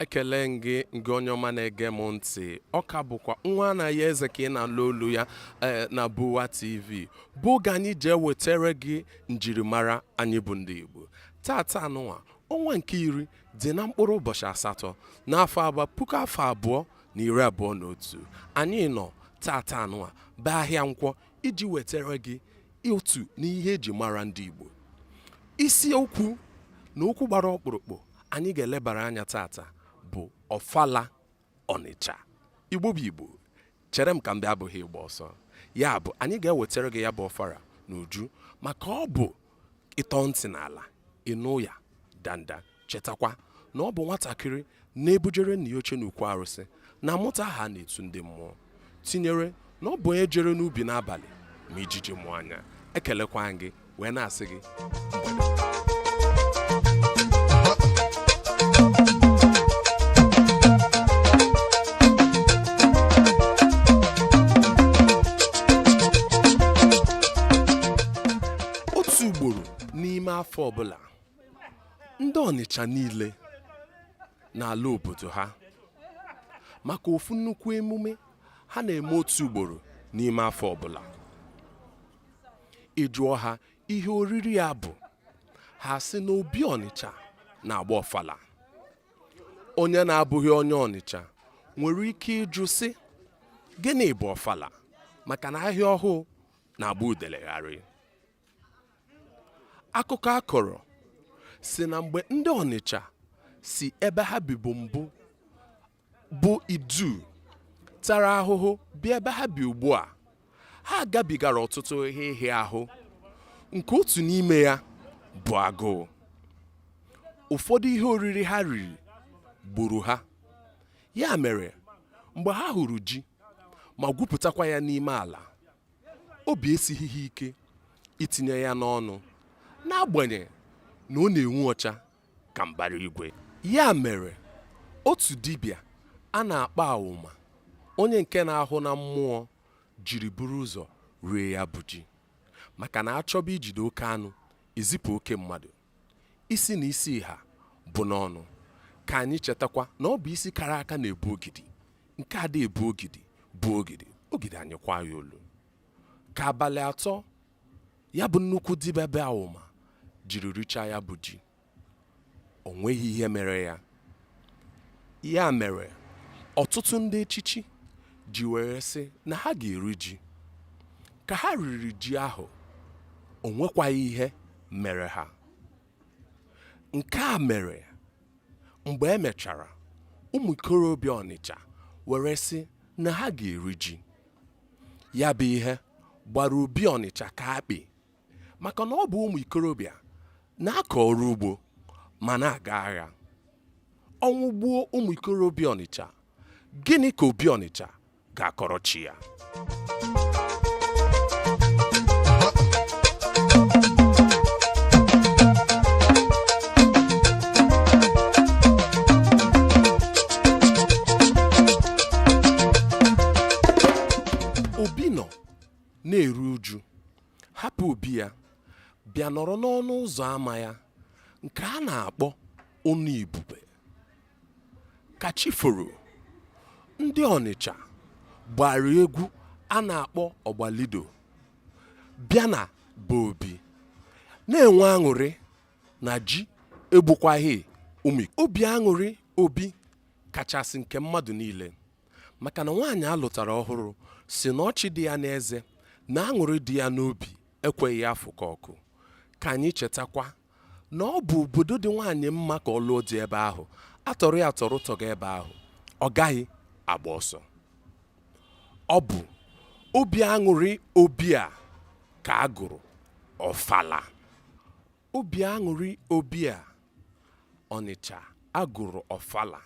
ekele m gị gị onye ọma na-ege m ntị ọ ka bụkwa nwa Anayọ Eze ka ị na-anụ olu ya eh, na Buwa TV bụ oge anyị ji ewetara gị njirimara anyị bụ ndị Igbo tata anụnwa ọnwa nke iri dị na mkpụrụ ụbọchị asatọ n'afọ agba puku afọ abụọ na iri abụọ na otu anyị nọ tata anụa bụ ahịa nkwọ iji wetara gị otu n'ihe eji mara ndị Igbo isi okwu na okwu gbara ọkpụrụkpụ anyị ga-elebara anya tata bụ ọfala Ọnịcha Igbo bụ Igbo chere m ka m bịa abụghị ịgba ọsọ ya bụ anyị ga-ewetara gị ya bụ ọfala n'uju maka ọ bụ ịtọ ntị n'ala ịnụ ụya danda chetakwa na ọ bụ nwatakịrị na-ebujere nna ya oche n'ukwu arụsị na-amụta aha a na-etu ndị mmụọ tinyere na ọ bụ onye jere n'ubi n'abalị ma ijiji mụ anya ekelekwa m gị wee na-asị gị otu ugboro n'ime afọ ọbụla ndị ọnịcha niile na-ala obodo ha maka ofu nnukwu emume ha na-eme otu ugboro n'ime afọ ọbụla ị jụọ ha ihe oriri ya bụ ha sị na obi ọnịcha na-agba ọfala onye na-abụghị onye ọnịcha nwere ike ịjụ sị gịnị bụ ọfala maka na ahịa ọhụụ na-agba udele gharịị akụkọ a kọrọ sị na mgbe ndị ọnịcha si ebe ha bibu mbụ bụ idu tara ahụhụ bịa ebe ha bi ugbu a ha gabigara ọtụtụ ihe ịhịa ahụ nke otu n'ime ya bụ agụụ ụfọdụ ihe oriri ha riri gburu ha ya mere mgbe ha hụrụ ji ma gwupụtakwa ya n'ime ala obi esighị ha ike itinye ya n'ọnụ n'agbanyeghị na ọ na-enwu ọcha ka mbara igwe ya mere otu dibịa a na-akpọ awụma onye nke na-ahụ na mmụọ jiri buru ụzọ rie ya bụ ji maka na achọba ijide oke anụ ezipụ oke mmadụ isi na isi ha bụ n'ọnụ ka anyị chetakwa na ọ bụ isi kara aka na-ebu ogidi nke ada ebu ogidi buo ogidi ogidi anyịkwaa ya olu ka abalị atọ ya bụ nnukwu dibịa bụ awụma jiri richaa ya bụ ji o nweghị ihe mere ya Ya mere, ọtụtụ ndị echichi ji were sị na ha ga-eri ji. Ka ha riri ji ahụ, o nwekwaghị ihe mere ha. Nke a mere mgbe e mechara, ụmụ ikorobịa Ọnịcha were sị na ha ga-eri ji. Ya bụ ihe gbara Obi Ọnịcha ka akpị. maka na ọ bụ ụmụ ikorobịa na-akọ ọrụ ugbo ma na-aga agha ọnwụ gbuo ụmụ ikorobịa ọnịcha gịnị ka obi ọnịcha ga-akọrọ chi ya hapụ obi ya bịa nọrọ n'ọnụ ụzọ ama ya nke a na-akpọ ụnụ ibube ka chi foro ndị ọnịcha gbara egwu a na-akpọ ọgbalido bịa na be obi na-enwe aṅụrị na ji egbukwaghị ụmụ ikorobịa aṅụrị obi kachasị nke mmadụ niile maka na nwaanyị a lụtara ọhụrụ sị na ọchị dị ya n'eze na aṅụrị dị ya n'obi ekweghị ya afụka ọkụ ka anyị chetakwa na ọ bụ obodo dị nwaanyị mma ka ọ lụọ di ebe ahụ a tọrọ ya atọrọ tọga ebe ahụ ọ gaghị agba ọsọ ọ bụ obi aṅụrị obi a ka a gụrụ ọfala obi aṅụrị obi a ọnịcha a gụrụ ọfala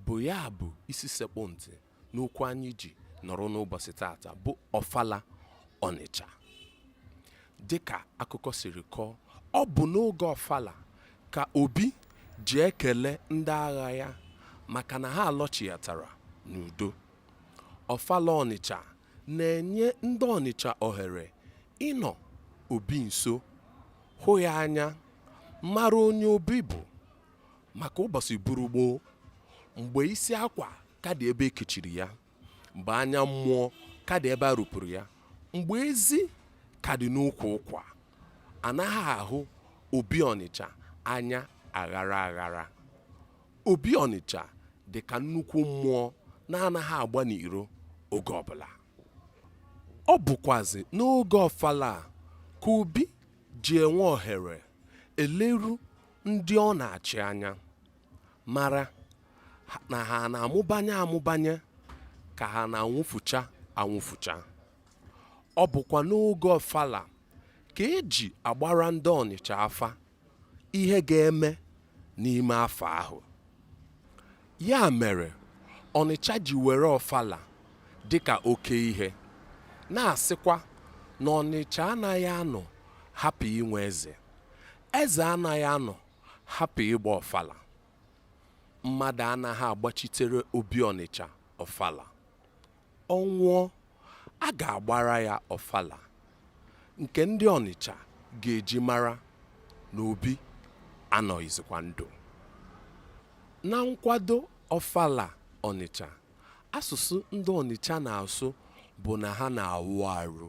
bụ ya bụ isi sekpụ ntị n'okwu anyị ji nọrọ n'ụbọsị tata bụ ọfala ọnịcha dịka akụkọ siri kọọ ọ bụ n'oge ọfala ka obi ji ekele ndị agha ya maka na ha alọchighatara n'udo ọfala ọnịcha na-enye ndị ọnịcha ohere ịnọ obi nso hụ ya anya mara onye obi bụ maka ụbọsị buru gboo mgbe isi akwa ka dị ebe e kechiri ya mgbe anya mmụọ ka dị ebe a rụpụrụ ya mgbe ezi ka dị n'ukwu ụkwa a naghị ahụ obi ọnịcha anya aghara aghara obi ọnịcha dị ka nnukwu mmụọ na-anaghị agba n'iro oge ọbụla ọ bụkwazi n'oge ọfala a ka obi ji enwe ohere eleru ndị ọ na-achị anya mara na ha na-amụbanye amụbanye ka ha na-anwụfucha anwụfucha ọ bụkwa n'oge ọfala ka eji agbara ndị ọnịcha afa ihe ga-eme n'ime afọ ahụ ya mere ọnịcha ji were ọfala dịka oke ihe na-asịkwa na ọnịcha anaghị anọ hapụ inwe eze eze anaghị anọ hapụ ịgba ọfala mmadụ anaghị agbachitere obi ọnịcha ọfala ọ nwụọ a ga-agbara ya ọfala nke ndị ọnịcha ga-eji mara na obi anọghịzikwa ndụ na nkwado ọfala ọnịcha asụsụ ndị ọnịcha na-asụ bụ na ha na-awụ arụ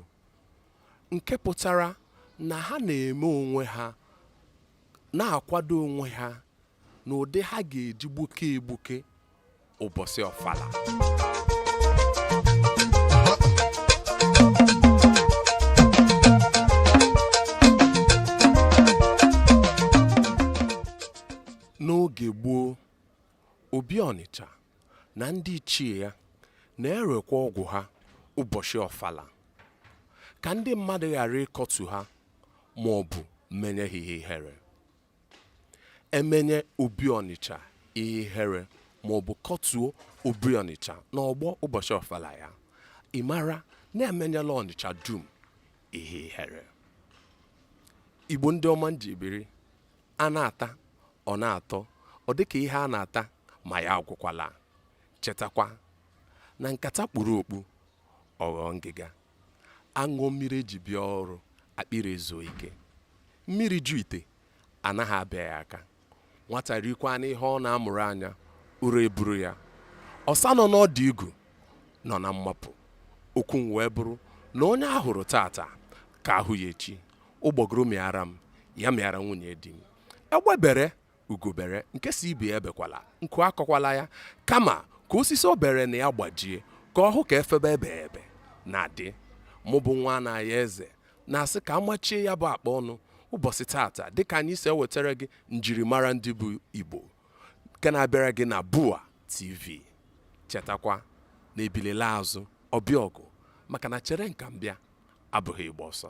nke pụtara na ha na-eme onwe ha na-akwado onwe ha n'ụdị ha ga-eji gbuke egbuke ụbọchị ọfala n'oge gboo obi ọnịcha na ndị ichie ya na-erekwa ọgwụ ha ụbọchị ọfala ka ndị mmadụ ghara ịkọtu ha ma ọ bụ menye ha ihe ihere emenye obi ọnịcha ihe ihere ma ọ bụ kọtuo obi ọnịcha n'ọgbọ ụbọchị ọfala ya ị mara na emenyela ọnịcha dum ihe ihere igbo ndị ọma m ji biri a na-ata ọ na-atọ ọ dịka ihe a na-ata ma ya agwụkwala chetakwa na nkata kpuru okpu ọ ghọọ ngịga aṅụọ mmiri eji bịa ọrụ akpịrị ezuo ike mmiri ju ite anaghị abịa ya aka nwata rikwanụ ihe ọ na-amụrụ anya ụra eburu ya ọsa nọ n'ọdụ igu nọ na mmapụ okwu m wee bụrụ na onye ahụrụ tata ka ahụ ya echi ụgbọgụrụ mịara m ya mịara nwunye di m egbe bere ugo bere nke si ibe ya ebekwala nku akọkwala ya kama ka osisi o bere na ya gbajie ka ọ hụ ka efebe ebebe na-adị mụ bụ nwa na ya eze na-asị ka amachie ya bụ akpa ọnụ ụbọchị tata dịka anyị si ewetara gị njirimara ndị bụ igbo nke na-abịara gị na bua tv chetakwa na ebile laa azụ ọ bịa ọgụ maka na chere m ka m bịa abụghị ịgba ọsọ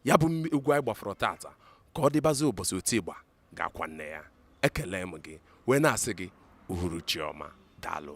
ya bụ egwu anyị gbafọrọ tata ka ọ dịbazị ụbọchị oti ịgba ga-akwa nne ya ekele m gị wee na-asị gị uhuruchi ọma daalụ